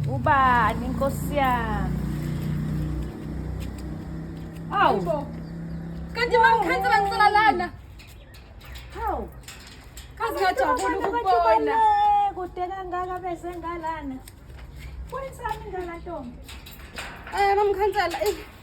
Ubani inkosi yami. Awu. Kanti mamkhansi banisela lana. Hawu. Kazi ngajabula ukubona. Kude kangaka bese ngalana. Kuyisami ngalantombi. Eh mamkhansela, eh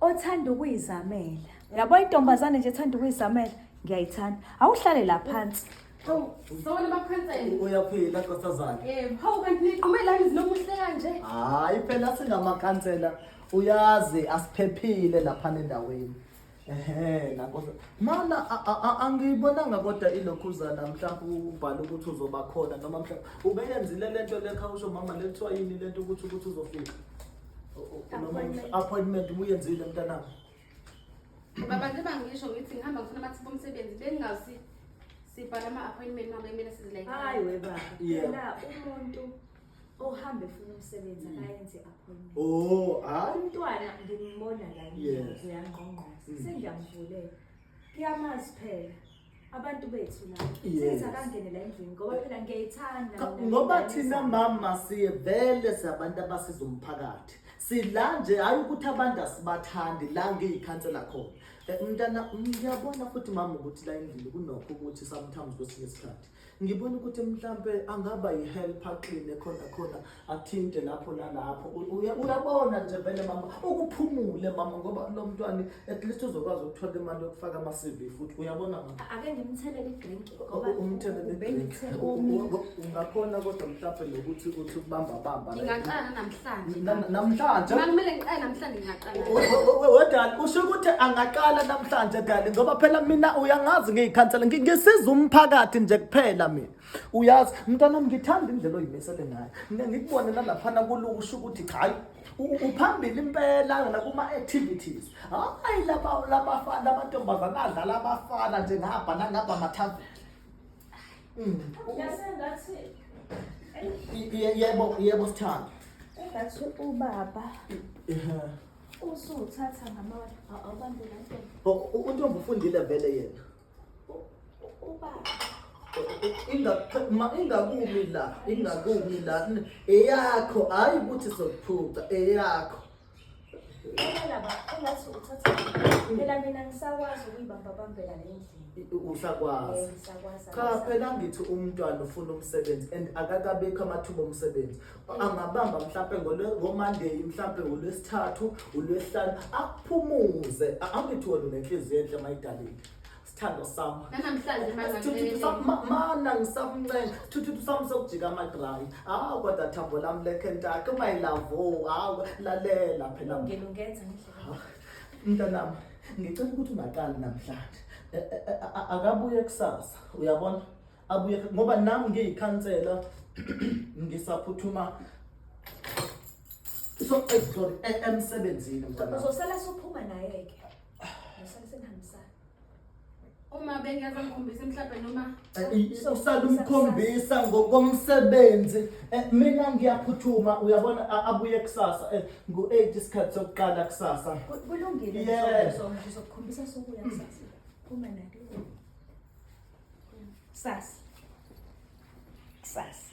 othanda ukuyizamela yabo intombazane nje ethanda ukuyizamela ngiyayithanda awuhlale la phansi Sawona bakhansela. Uyaphila nkosazana. Yebo, hawu kanti niqhume lani zinomuhle kanje? Hayi phela singamakhansela uyazi asiphephile lapha endaweni. Ehe, nakho mana a- a- a- angiyibonanga kodwa ilokhuzana mhlawumbe ubhala ukuthi uzoba khona noma mhlawumbe ubeyenzile le nto lekha usho mama le kuthiwa yini le nto ukuthi ukuthi uzofika O- o- noma Appointment. appointment ubuyenzile mntanami Baba nje bangisho ngithi ngihamba ngifuna amathuba omsebenzi bengingazi sibhala ama-appointment mama kumele sizilayithe. Hayi we baba. Yeah. Phela umuntu ohambe funa umsebenzi mm. akayenze appointment oh hayi umntwana ngimbona la ngiyenze yangqongqoza mm. sengiyamuvulela kuyamazi phela abantu bethu la senza kangene la endlini ngoba phela ngiyayithanda ngoba thina mama siye vele sabantu abasiza umphakathi sila nje hayi ukuthi abantu asibathandi la ngiyikhansela khona eh, mntana ngiyabona futhi mama ukuthi la endlini kunokho ukuthi sometimes kwesinye isikhathi Ngibona ukuthi mhlampe angaba yihelp aqine khona khona athinte lapho nalapho. Uyabona nje vele mama ukuphumule mama ngoba lo mntwana at least uzokwazi ukuthola imali yokufaka ama CV futhi uyabona mama. Ake ngimthelele idrink ngoba umthelele idrink. Ungakhona kodwa mhlampe nokuthi uthi ukubamba bamba. Ngingaqala namhlanje. Namhlanje. Kumele ngiqale namhlanje ngingaqala. wedali usho ukuthi angaqala namhlanje dali ngoba phela mina uyangazi ngiyikhansela ngisiza umphakathi nje kuphela mina uyazi mntwana ngithanda indlela oyimisele ngayo mina ngikubone nalaphana kuluku usho ukuthi cha hayi uphambili impela nakuma-activities hayi lamantombazane adlala abafana nje ngabha nangabha mathaveni Mm. Yasengathi yebo yebo sithanda engathi ubaba usuthatha ngamawala awubambe kanto untombi ufundile vele yena ubaba ingakumi la ingakumi la eyakho hhayi ukuthi sokuphuca eyakho usakwazi eh, cha phela ngithi umntwana ufuna umsebenzi and akakabekho amathuba omsebenzi angabamba mhlampe ngomonday mhlampe ulwesithathu ulwesihlanu akuphumuze angithi wona unenhliziyo enhle mayidalile Sithando sami. Nanamhlanje mangancela. Mana ngisamncela. Thuthu sami sokujika amadrayi. Ah kodwa thambo lami lekhentaka my love. Oh, hawu lalela phela. Ngilungenza ngendlela. Mntanami, ngicela ukuthi ungaqali namhlanje. E, e, e, akabuye kusasa. Uyabona? Abuye ngoba nami ngiyikhansela ngisaphuthuma so sorry emsebenzini mntanami. Uzosala sophuma naye ke. Usale senihambisana. uma bengeza ngikhombisa mhlawumbe noma eh, usalumkhombisa ngokomsebenzi eh, mina ngiyaphuthuma uyabona abuye kusasa eh, ngu-eight isikhathi sokuqala kusasa kulungile ngizokukhombisa sokuya kusasa phuma nake kusasa kusasa